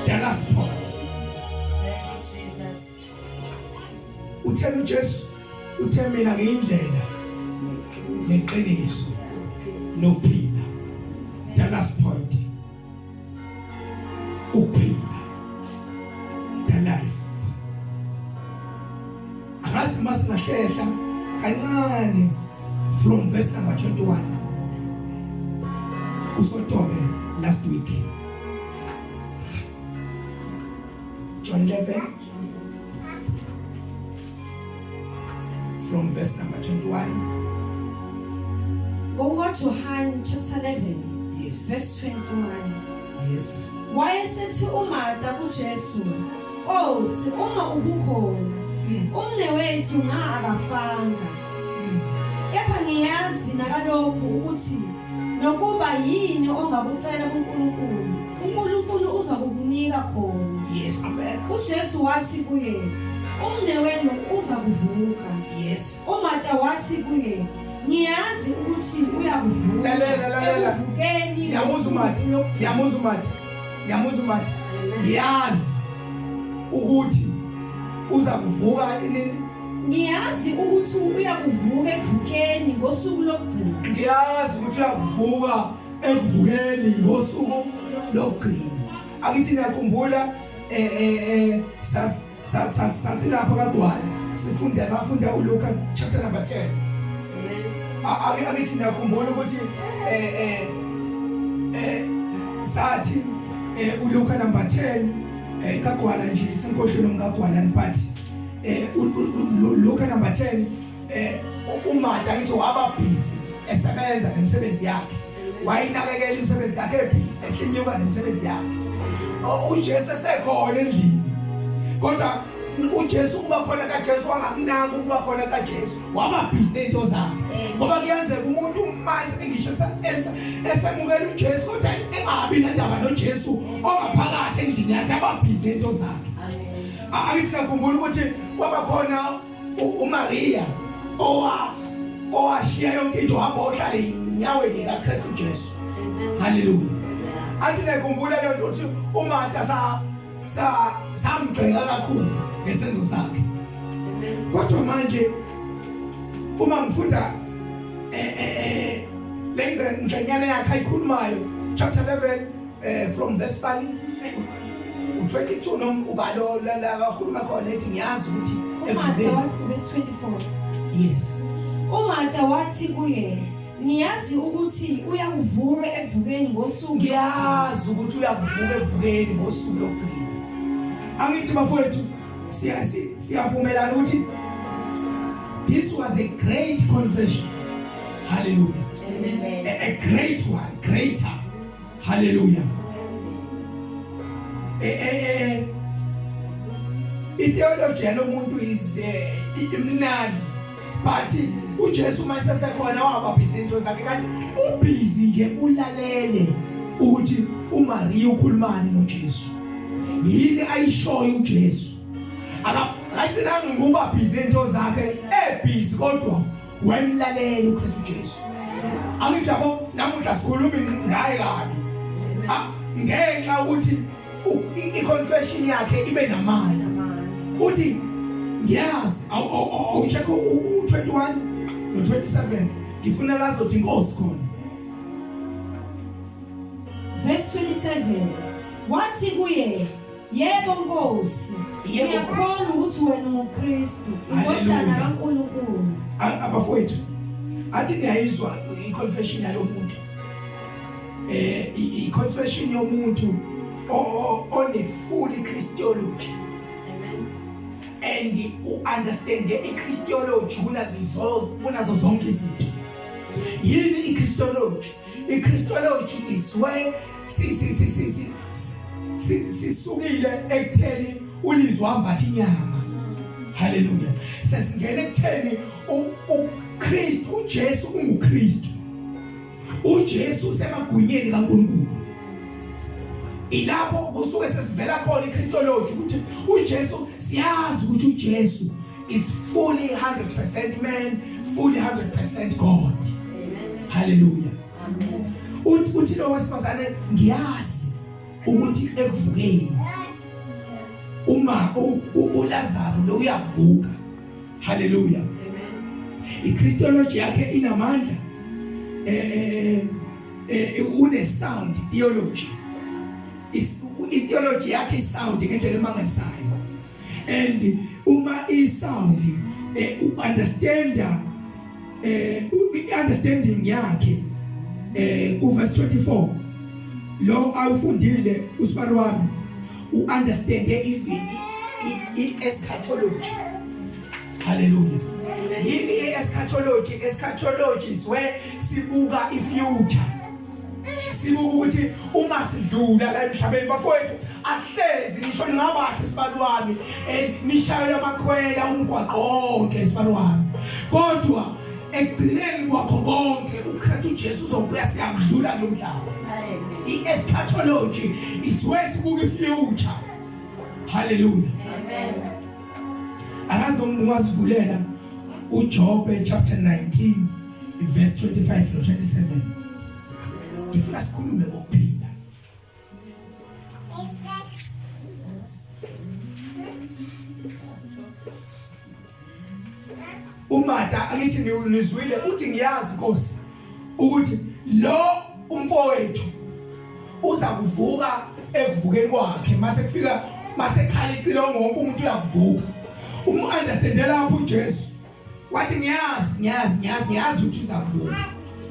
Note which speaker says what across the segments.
Speaker 1: the last part uthena uJesu uthe mina ngiyindlela neqiniso nophila the last point uphila the life akazi uma singahlehla kancane from verse number 21 usotobe last week John 11 from verse number 21 Ngokuka
Speaker 2: John chapter 11 yes verse 21 yes
Speaker 1: Wayesethi
Speaker 2: uMartha kuJesu Nkosi uma ubukhona hmm. umne wethu nga akafanga hmm. kepha ngiyazi nakalokhu ukuthi nokuba yini ongakucela kuNkulunkulu uNkulunkulu uzakukunika khona yes amen
Speaker 1: uJesu wathi
Speaker 2: kuye umnewenu uza kuvuka yes uMata
Speaker 1: wathi
Speaker 2: kuye ngiyazi ukuthi uyakuvuka lalela lalela
Speaker 1: uvukeni yamuza
Speaker 2: uMata
Speaker 1: yamuza uMata yamuza uMata yazi ukuthi uza kuvuka inini Ngiyazi
Speaker 2: ukuthi uyakuvuka ekuvukeni ngosuku lokugcina. Ngiyazi ukuthi
Speaker 1: uyakuvuka ekuvukeni ngosuku lokugcina. Akithi ngiyakhumbula eh eh, eh sas sasilapha kadwala sifunda safunda uLuka chapter number 10. Amen. Akithi ngiyakhumbula ukuthi eh eh eh sathi eh uLuka number 10 eh kagwala nje senkohlweni omkagwala niphathi eh Luka number 10 eh uMatha ngithi waba busy esebenza nemisebenzi yakhe wayinakekela imisebenzi yakhe ebhizi ehlinyuka nemisebenzi yakhe uJesu esekhona endlini kodwa uJesu kuba khona kaJesu wangakunaka ukuba khona kaJesu waba busy nezinto zakhe ngoba kuyenzeka umuntu mase ngisho esemukela uJesu kodwa engabi nendaba noJesu ongaphakathi endlini yakhe aba busy nezinto zakhe Angithi nakhumbula ukuthi kwaba khona uMaria owa owashiya yonke into hamba ohlale enyaweni kaKristu Jesu. Haleluya. Athi nakhumbula lento ukuthi uMartha sa sa samgcela kakhulu ngesenzo sakhe. Kodwa manje uma ngifunda eh eh, eh lengcenyana yakhe ayikhulumayo chapter 11 eh from the spali 22 nom ubalo la la kakhuluma khona ethi ngiyazi ukuthi Umarta wathi
Speaker 2: verse 24 yes
Speaker 1: Umarta
Speaker 2: wathi kuye ngiyazi ukuthi uyakuvuka ekuvukeni ngosuku ngiyazi ukuthi
Speaker 1: uyakuvuka ekuvukeni ngosuku lokugcina angithi bafowethu siyasi siyavumelana ukuthi this was a great confession hallelujah
Speaker 2: amen a, a great
Speaker 1: one greater haleluya eh eh eh ideology yalomuntu is eh, imnandi but uJesu uma sesekhona wabapha izinto zakhe kanti ubhizi nje ulalele ukuthi uMaria ukhulumani noJesu yini ayishoyo uJesu akathi nangu kuba busy into zakhe ebhizi kodwa wayemlalela uKristu Jesu angithi yabo namuhla sikhuluma ngaye kabi ah, ngenxa ukuthi i-confession yakhe ibe namandla uthi ngiyazi awuchekhe u-21 no-27 ngifuna lazothi inkosi khona verse 27 wathi kuye
Speaker 2: Yebo Nkosi. Yebo Ngiyakhona ukuthi wena unguKristu, indodana kaNkulunkulu. Abafowethu,
Speaker 1: athi ngiyayizwa i-confession yalomuntu. Eh i-confession yomuntu one-fully Christology. And u-understand i-Christology kunazo zonke izinto. Yini i-Christology? I-Christology is where sisukile ekutheni ulizwe uhambatha inyama haleluya sesingena ekutheni uKristu uJesu unguKristu uJesu usemagunyeni kaNkulunkulu ilapho kusuke sesivela khona iChristology ukuthi uJesu siyazi ukuthi uJesu is fully 100% man fully 100% God haleluya uthi uthi lo wesifazane ngiyazi ukuthi ekuvukeni uma uLazaro lo uyavuka haleluya iChristology yakhe inamandla eh eh, eh, eh une sound theology is ideology yakhe isound ngendlela emangalisayo and uma i sound eh, u understand eh understanding yakhe eh ku verse 24 lo awufundile usibari wami u understand even i eschatology haleluya yini i eschatology eschatology is where sibuka i future sibuka ukuthi uma sidlula la emhlabeni bafowethu asihlezi ngisho ningabahle sibani wami eh, nishayela amakhwela umgwaqo wonke sibani wami kodwa ekugcineni kwakho konke uKristu Jesu uzobuya siyamdlula lo mhlaba i-eschatology is where sibuka i-future haleluya amen akazi noma ungazivulela uJobe chapter 19 iverse 25 no-27 ngifuna sikhulume ngokuphinda umata angithi nizwile uthi ngiyazi nkosi ukuthi lo umfowethu uza kuvuka ekuvukeni kwakhe mase kufika mase khala icilongo wonke umuntu uyavuka umu-understande lapho ujesu wathi ngiyazi ngiyazi ngiyazi ngiyazi ukuthi uzakuvuka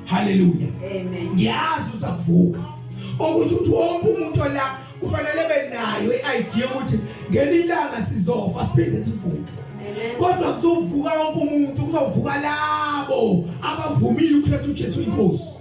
Speaker 1: haleluya amen ngiyazi uzakuvuka ukuthi uthi wonke umuntu ola kufanele benayo i-idea ukuthi ngelinye ilanga sizofa siphinde sivuke kodwa kuzovuka wonke umuntu kuzovuka labo abavumile ukukhetha uJesu inkosi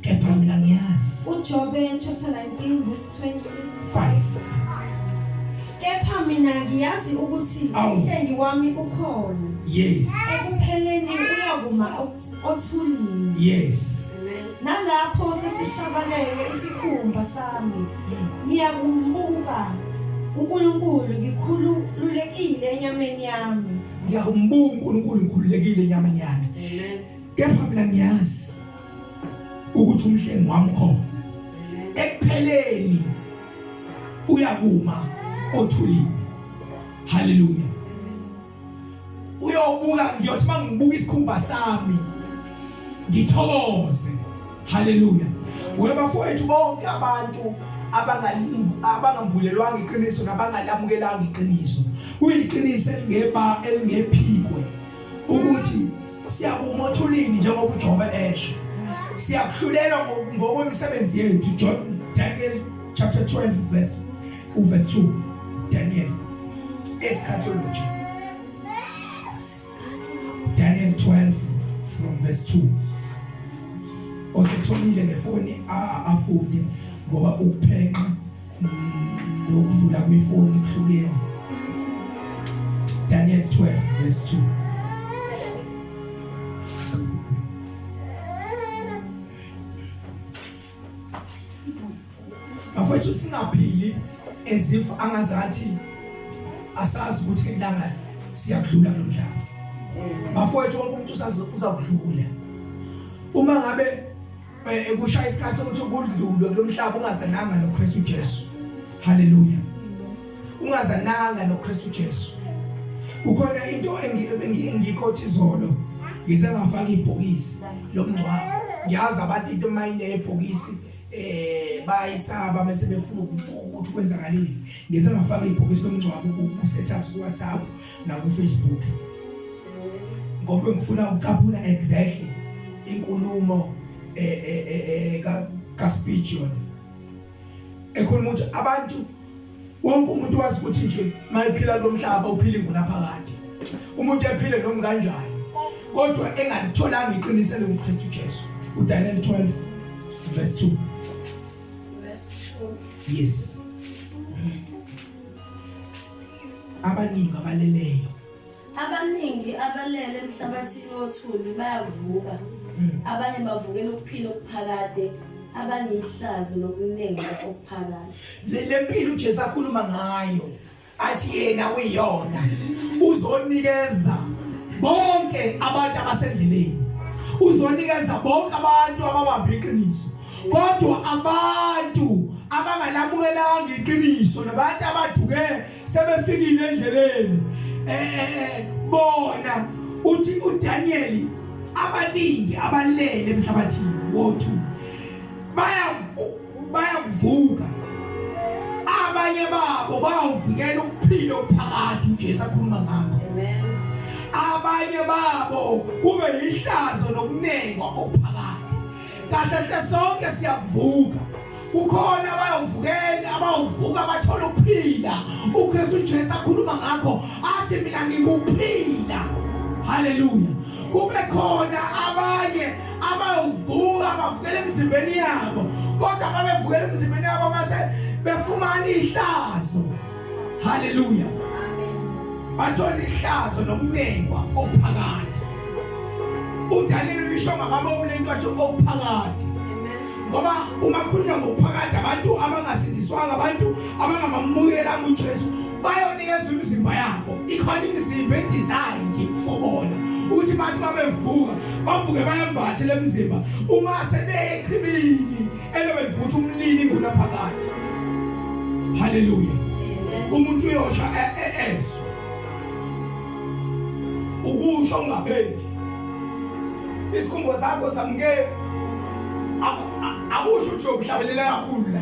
Speaker 1: kepha mina ngiyazi uJobe chapter
Speaker 2: 19 verse 25 kepha mina ngiyazi ukuthi umhlengi wami ukhona yes
Speaker 1: ekupheleni
Speaker 2: uyakuma othulini yes
Speaker 1: nalapho
Speaker 2: sesishabalele isikhumba sami ngiyakumbuka uNkulunkulu ngikhululekile enyameni yami ngiyakumbuka
Speaker 1: uNkulunkulu ngikhululekile enyameni yami kepha mina ngiyazi ukuthi umhlengi wami khona ekupheleni uyakuma othulini haleluya uyobuka ngiyothi mangibuka isikhumba sami ngithokoze haleluya webafowethu bonke abantu abangambulelwanga iqiniso nabangalamukelanga iqiniso kuyiqiniso elingeba elingephikwe ukuthi Siyakuma othulini njengoba uJobe esho. Siyakuhlulelwa ngokwemisebenzi yethu John Daniel chapter 12 verse uverse 2 Daniel eschatology Daniel 12 from verse 2 Osethomile ngefoni afunde ngoba ukuphenqa nokuvula kwifoni kuhlukene Daniel 12 verse 2 Afethu singaphili as if angazathi asazi ukuthi ilanga siyakudlula lo mhlaba bafowethu wonke umuntu uzakudlula uma ngabe eh, ekushaya isikhathi sokuthi kudlulwe kulomhlaba ungazananga noKristu Jesu haleluya ungazananga noKristu Jesu ukhona into engiyikhothi izolo ngize ngafaka ibhokisi lomngcwabo ngiyazi abantu into mayine ebhokisi eh bayisaba bese befuna ukuthi kwenzakaleni ngize ngafaka ibhokisi lomngcwabo ku status ku WhatsApp nakufacebook ngoba ngifuna ukucaphuna exactly inkulumo eh, eh, eh, ka kaspijon ekhuluma ukuthi abantu wonke umuntu wazi ukuthi nje mayiphila lomhlaba uphila ingunaphakade umuntu ephile noma kanjani kodwa engalitholanga iqiniso lokuKristu Jesu uDaniel 12 verse 2 verse 2 yes abaningi abaleleyo abaningi
Speaker 3: abalele emhlabathini othuli bayavuka hmm. abanye bavukela ukuphila okuphakade abanye ihlazo lokuningi okuphakade le mpilo uJesu
Speaker 1: akhuluma ngayo athi yena uyiyona uzonikeza bonke abantu abasendleleni uzonikeza bonke abantu ababambe iqiniso kodwa abantu abangalamukelanga iqiniso nabantu abaduke sebefikile endleleni eh, eh, eh bona uthi uDaniel abaningi abalele emhlabathini wothu baya bayavuka abanye babo bawuvikela ukuphila okuphakathi uJesu akhuluma ngakho
Speaker 3: abanye
Speaker 1: babo kube yihlazo nokunengwa okuphakathi kahle hle sonke siyavuka kukhona abayovukela abawuvuka bathola ukuphila uKristu Jesu akhuluma ngakho athi mina ngikuphila haleluya kube khona abanye abayowuvuka bavukela emzimbeni yabo kodwa babevukela emzimbeni yabo mase befumana ihlazo haleluya bathola ihlazo nokunengwa okuphakade uDaniel uyisho ngamabomu lento athi okuphakade ngoba uma khulunywa ngokuphakade abantu abangasindiswanga abantu abangamamukela uJesu bayonikezwa imizimba yabo ikhona imizimba edizayi nje kufobona ukuthi bathi babevuka bavuke bayembathe lemizimba uma sebeyechibini Element futhi umlili ngunaphakade. Hallelujah. Umuntu uyosha e, e, ezwe. Ukusho ungapheli. Isikhumbo sakho samukele akusho ukuthi uyokuhlabelela kakhulu la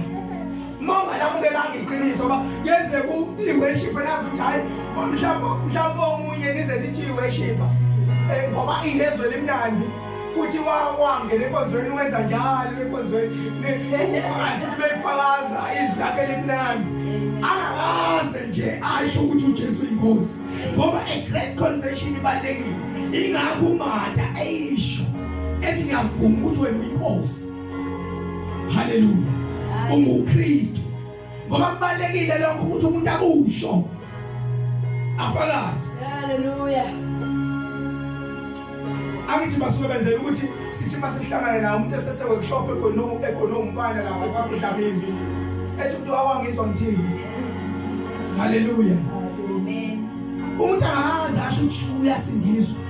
Speaker 1: mama lamukelanga iqiniso ba yenze ku iworship nazi ukuthi hayi mhlawumbe mhlawumbe omunye nize nithi iworship eh ngoba ingezwe limnandi futhi wangena enkonzweni wenza njalo enkonzweni futhi beyifakaza izwi lakhe elimnandi angakaze nje asho ukuthi ujesu yinkosi ngoba a great confession ibalulekile ingakho umata eyisho ethi ngiyavuma ukuthi wena uyinkosi haleluya ungukristu ngoba kubalekile lokho ukuthi umuntu akusho afakazi haleluya angithi basuke benzela ukuthi sithi uma sesihlangane nawo umuntu esese workshop ekonomu ekonomu mfana lapha kwakuhlabizwi ethi umuntu awangizwa ngithini haleluya
Speaker 2: umuntu
Speaker 1: angazi asho ukuthi uyasindiswa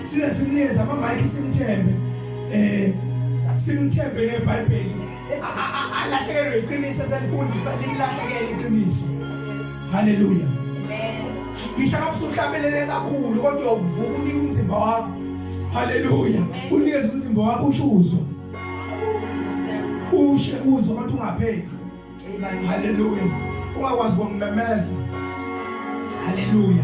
Speaker 1: size simnikeze ama-mike simthembe um simthembe nebhayibheli alahlekelwe iqiniso eselifunda limlahlekele iqiniso haleluya
Speaker 2: ngisho noma
Speaker 1: usuhlambelele kakhulu kodwa uyovuka unike umzimba wakho haleluya unikeze umzimba wakho usho uzwa ushe uzwa kodwa ungapheli haleluya ungakwazi ukumemeza haleluya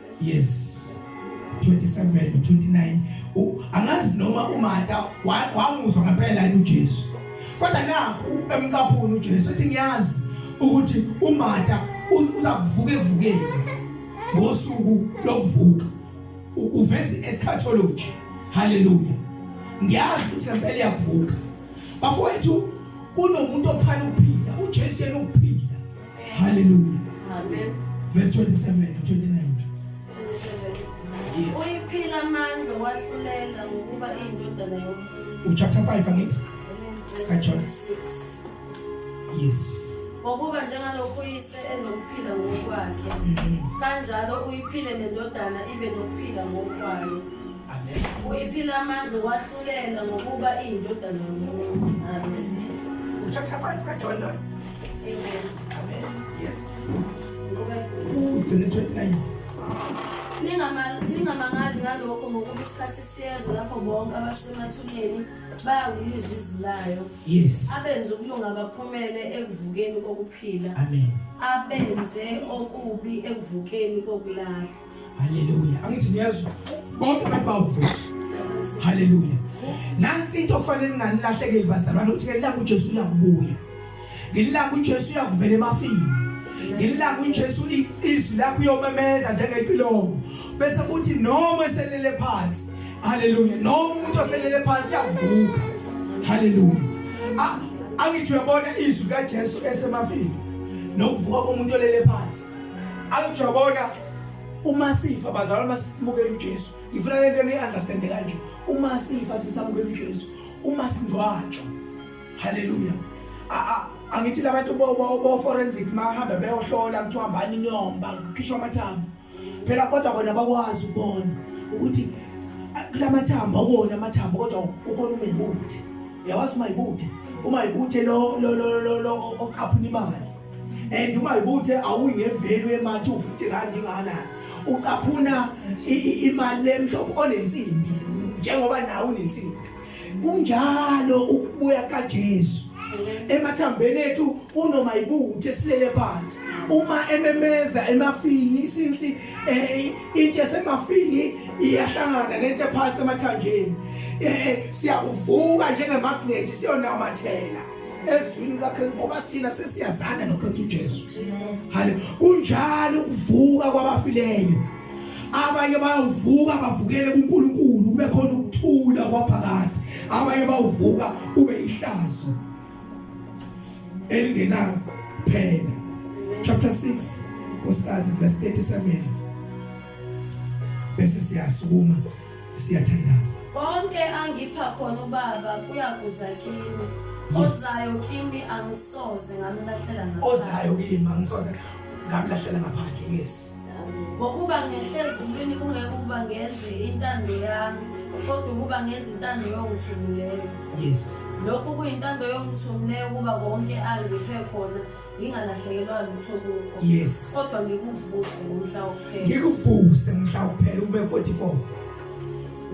Speaker 1: yes 27 29 angazi noma uMata wamuzwa ngempela yini uJesu kodwa nakho emcaphuni uJesu uthi ngiyazi ukuthi uMata uza kuvuka evukeni ngosuku lokuvuka uveza eschatology haleluya ngiyazi ukuthi ngempela iyakuvuka bafowethu kunomuntu ophana ukuphila uJesu yena ukuphila Hallelujah. Amen.
Speaker 3: Verse 27
Speaker 1: to 29.
Speaker 3: Uyiphila amandla wahlulela ngokuba iyindodana yomuntu. Uchapter 5 angithi?
Speaker 1: Kajohn
Speaker 3: 6. Yes.
Speaker 1: ngokuba njengalokhu
Speaker 3: uyise enokuphila ngokwakhe mm-hmm. kanjalo uyiphile nendodana ibe nokuphila ngokwayo
Speaker 1: uyiphila amandla
Speaker 3: uwahlulela ngokuba iyindodana yomuntu Ningamangali ngalokho ngokuba isikhathi siyeza lapho bonke abasemathuneni bayawulizwa izilayo abenze
Speaker 1: ukulunga
Speaker 3: baphumele ekuvukeni kokuphila
Speaker 1: abenze
Speaker 3: okubi ekuvukeni kokulahla Haleluya.
Speaker 1: Angithi niyezwa. Bonke abantu bawuvula. Haleluya. Nansi into okufanele ninganilahlekeli bazalwane ukuthi ngelanga uJesu uyakubuya. Ngelanga uJesu uyakuvela ebafini. Ngelanga uJesu izwi lakho uyomemeza njengecilongo. Bese kuthi noma eselele phansi. Haleluya. Noma umuntu oselele phansi uyavuka. Haleluya. Angithi uyabona izwi kaJesu esemafini. Nokuvuka komuntu olele phansi. Angijabona uma sifa bazalwa masisimukela uJesu. Ngifuna lento ni understand kanje. Uma sifa sisamukela uJesu. Uma singcwatshwa. Hallelujah. A a angithi labantu bo bo forensic mahamba beyohlola kuthiwa hambani nyomba kukhishwa amathambo. Phela kodwa bona bakwazi ukubona ukuthi kulamathambo akona amathambo kodwa ukhona umebuthi. Yawazi mayibuthe. Uma ibuthe lo lo lo lo oqaphuna imali. and uma ibuthe awuyinevelu emathi u-50 rand ingakanani ucaphuna imali lemhlophe onensimbi njengoba nawe unensimbi kunjalo ukubuya kaJesu emathambeni ethu kunoma ibuthe silele phansi uma ememeza emafini since eh, into esemafini iyahlangana nento ephansi emathanjeni eh, eh, siyakuvuka njengemagnethi siyonamathela ezwini lakhe ngoba sina sesiyazana noKristu uJesu hale kunjalo ukuvuka kwabafileyo abanye bayovuka bavukele kuNkulunkulu kube khona ukuthula kwaphakade abanye bawuvuka ube ihlazo elingena phela chapter 6 nkosikazi verse 37 bese siyasukuma siyathandaza konke
Speaker 3: angipha khona ubaba kuyakuza kimi ozayo kimi angisoze ngamlahlela ngaphandle ozayo kimi angisoze
Speaker 1: ngamlahlela ngaphandle yes ngokuba
Speaker 3: ngehle ezulwini kungeke ukuba ngenze intando yami kodwa ukuba ngenze intando yongithumileyo yes
Speaker 1: lokhu kuyintando
Speaker 3: yongithumileyo ukuba konke angiphe khona ngingalahlekelwa lutho kukho yes kodwa
Speaker 1: ngikuvuse
Speaker 3: ngomhla wokuphela ngikuvuse ngomhla wokuphela
Speaker 1: ube 44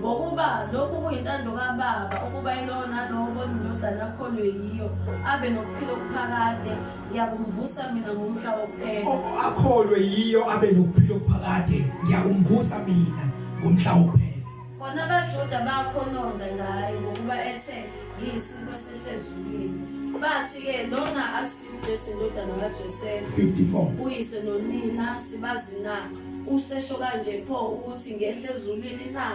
Speaker 3: ngokuba lokhu kuyintando kababa ukuba ilowo nalowo bona indodana akholwe yiyo abe nokuphila okuphakade ngiyakumvusa mina ngomhla wokuphela akholwe yiyo
Speaker 1: abe nokuphila okuphakade ngiyakumvusa mina ngomhla wokuphela Bona abaJuda
Speaker 3: bakhononda ngaye ngokuba ethe ngiyisiko esihlezulwini. Bathi-ke lona akusiyo uJesu indodana kaJosefa. 54. Uyise
Speaker 1: nonina
Speaker 3: sibazi na? Usesho kanje pho ukuthi ngehle ezulwini na?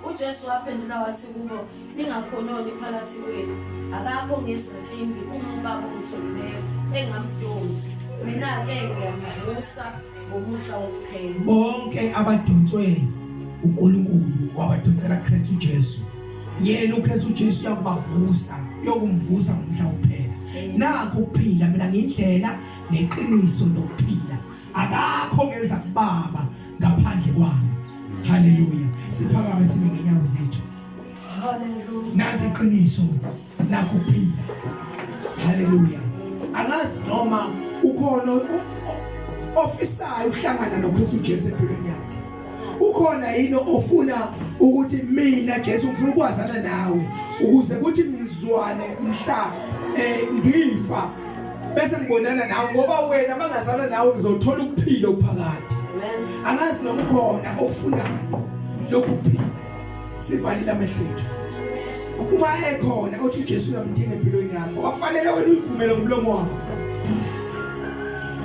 Speaker 3: UJesu waphendula wathi kubo, ningakhononi phakathi kwenu. Akakho ngezinkimbi uma uBaba ongitholileyo engamdonsi. Mina-ke ngiyamuvusa ngomusa wokuphela. Bonke
Speaker 1: abadonswe uNkulunkulu wabadonsela Kristu Jesu. Yena uKristu Jesu uyakubavusa, uyokumvusa ngomhla wokuphela. Nakho ukuphila mina ngindlela neqiniso nokuphila. Akakho ngeza kubaba ngaphandle kwami. Hallelujah. Siphakame sibe ngenyawo zethu. Hallelujah.
Speaker 3: Nathi iqiniso.
Speaker 1: nakho phila haleluya angazi noma ukhona ofisayo ukuhlangana noKristu Jesu empilweni yakhe ukhona yini ofuna ukuthi mina Jesu ngifuna ukwazana nawe ukuze kuthi ngizwane mhla eh ngifa bese ngibonana nawe ngoba wena mangazana nawe ngizothola ukuphila okuphakade angazi noma ukhona ofunayo lokuphila sivalile amehlo ethu ukuba ekhona othi uJesu uyamdinga empilweni yami ngoba kufanele wena uyivumele ngomlomo wakho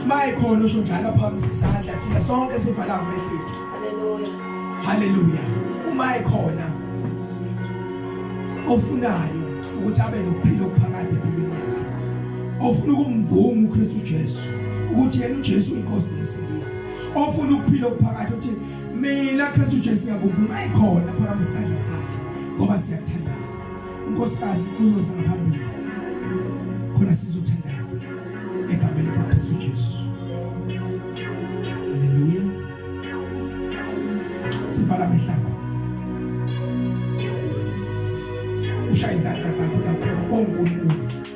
Speaker 1: uma ekhona usho njalo phamisa isandla thina sonke sivala amehlo ethu haleluya haleluya uma ekhona ofunayo ukuthi abe nokuphila okuphakade empilweni yakhe ofuna ukumvuma uKristu Jesu ukuthi yena uJesu inkosi nomsindisi ofuna ukuphila okuphakade uthi mina Kristu Jesu ngiyakuvuma ayikhona phakathi isandla sakhe ngoba siyathandaza unkosikazi uzoza ngaphambili khona sizothandaza egameni likaKristu Jesu haleluya sivala mehlakho ushaya izandla zakho lapho ongunkulu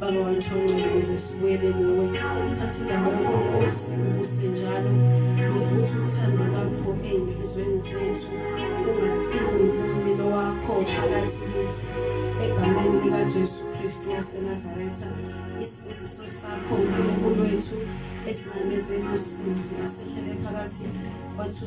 Speaker 3: Baba wethu ongcwele uze sibuyele kuwe thatha indawo yakho Nkosi ubuse njalo uvuthe uthando lwakho ey'nhlizweni zethu ungacimi umlilo wakho phakathi kithi egameni likaJesu Kristu waseNazaretha isibusiso sakho uNkulunkulu wethu esinamezela usizi asehlele phakathi kwethu